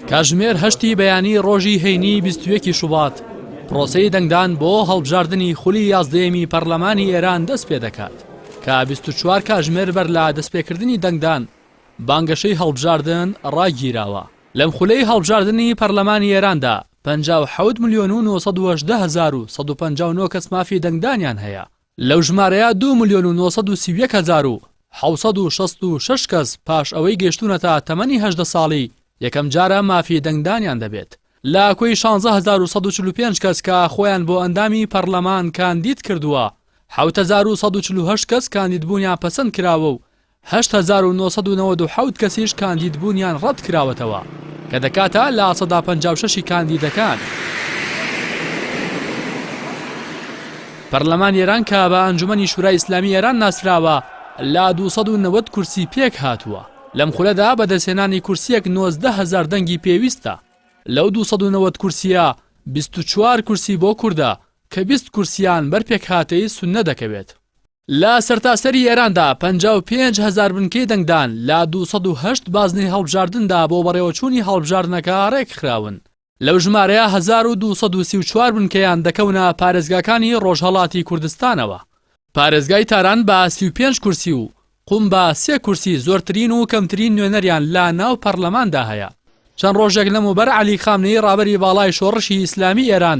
کاژمێر هەشتی بەیانی ڕۆژی هەینی 21 شوبات پرۆسی دەنگدان بۆ هەڵبژاردننی خولی یازدەیەمی پەرلەمانی ئێران دەست پێ دەکات کە 24 کاژمێر بەر لە دەستپێکردنی دەنگدان بانگەشەی هەڵبژاردن ڕاگیراوە لەم خولەی هەڵبژاردننی پەرلەمانی ئێراندا 5 ملیۆن و 1950 کەس مافی دەنگدانیان هەیە لەو ژمارەیە دوو ملیۆن و نۆ سەد و سی و یەک هەزار و حەوت سەد و شەست و شەش کەس پاش ئەوەی گەیشتوونەتە تەمەنی هەژدە ساڵی یەکەم جارە مافی دەنگدانیان دەبێت لە کۆی شانزە هەزار و سەد و چل و پێنج کەس کە خۆیان بۆ ئەندامی پەڕلەمان کاندید کردووە حەوت هەزار و سەد و چل و هەشت کەس کاندیدبوونیان پەسەند کراوە و هەشت هەزار و نۆ سەد و نەوەد و حەوت کەسیش کاندید بوونیان ڕەت کراوەتەوە، کە دەکاتە لە سەدا پەنجا و شەش ی کاندیدەکان. پەرلەمانی ئێران کە بە ئەنجومەنی شورای ئیسلامی ئێران ناسراوە، لە دوو سەد و نەوەد کورسی پێک هاتووە، لەم خولەدا بەدەستهێنانی کورسییەک نۆزدە هەزار دەنگی پێویستە، لەو دوو سەد و نەوەد کورسییە بیست و چوار کورسی بۆ کوردە، کە بیست کورسییان بەر پێکهاتەی سوننە دەکەوێت. لە سەرتاسەری ئێراندا پەنجا و پێنج هەزار بنکەی دەنگدان لە دوو سەد و هەشت بازنەی هەڵبژاردندا بۆ بەڕێوەچوونی هەڵبژاردنەکە ڕێکخراون، لەو ژمارەیە هەزار و دوو سەد و سی و چوار بنکەیان دەکەونە پارێزگاکانی ڕۆژهەڵاتی کوردستانەوە، پارێزگای تاران بە سی و پێنج کورسی و قوم بە سێ کورسی زۆرترین و کەمترین نوێنەریان لە ناو پەڕلەماندا هەیە. چەند ڕۆژێک لەمەوبەر عەلی خامنەیی ڕابەری باڵای شۆڕشی ئیسلامی ئێران،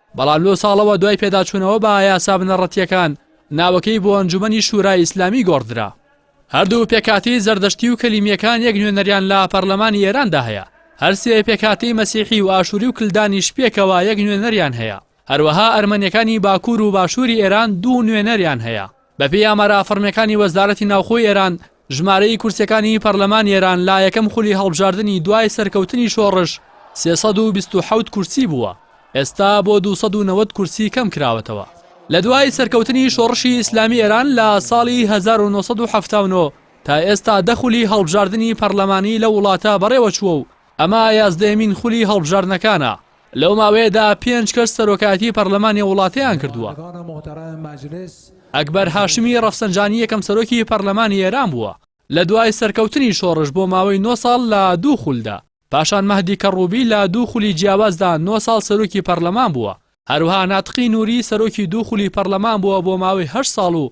بەڵام لۆ ساڵەوە دوای پێداچوونەوە بە یاسا بنەڕەتییەکان ناوەکەی بۆ ئەنجومەنی شورای ئیسلامی گۆڕدرا. هەردوو پێکهاتەی زەردەشتی و کەلیمییەکان یەک نوێنەریان لە پەرلەمانی ئێراندا هەیە، هەر سێ پێکهاتەی مەسیحی و ئاشوری و کلدانیش پێکەوە یەک نوێنەریان هەیە، هەروەها ئەرمەنییەکانی باکوور و باشووری ئێران دوو نوێنەریان هەیە. بەپێی ئامارە فەڕمیەکانی وەزارەتی ناوخۆی ئێران، ژمارەی کورسیەکانی پەڕلەمانی ئێران لە یەکەم خولی هەڵبژاردنی دوای سەرکەوتنی شۆڕش سێ سەد و بیست و حەوت کورسی بووە، ئێستا بۆ دوو سەد و نەوەد کورسی کەم کراوەتەوە. لە دوای سەرکەوتنی شۆڕشی ئیسلامی ئێران لە ساڵی هەزار و نۆ سەد و حەفتا و نۆ تا ئێستا دە خولی هەڵبژاردنی پەڕلەمانی لەو وڵاتە بەڕێوەچووە و ئەمە یازدەیەمین خولی هەڵبژاردنەکانە. لەو ماوەیەدا پێنج کەس سەرۆکایەتی پەرلەمانی وڵاتیان کردووە. ئەکبەر هاشمی ڕەفسەنجانی یەکەم سەرۆکی پەرلەمانی ئێران بووە لە دوای سەرکەوتنی شۆڕش بۆ ماوەی نۆ ساڵ لە دوو خولدا. پاشان مەهدی کەڕووبی لە دوو خولی جیاوازدا نۆ ساڵ سەرۆکی پەرلەمان بووە. هەروەها ناتقی نووری سەرۆکی دوو خولی پەرلەمان بووە بۆ ماوەی هەشت ساڵ و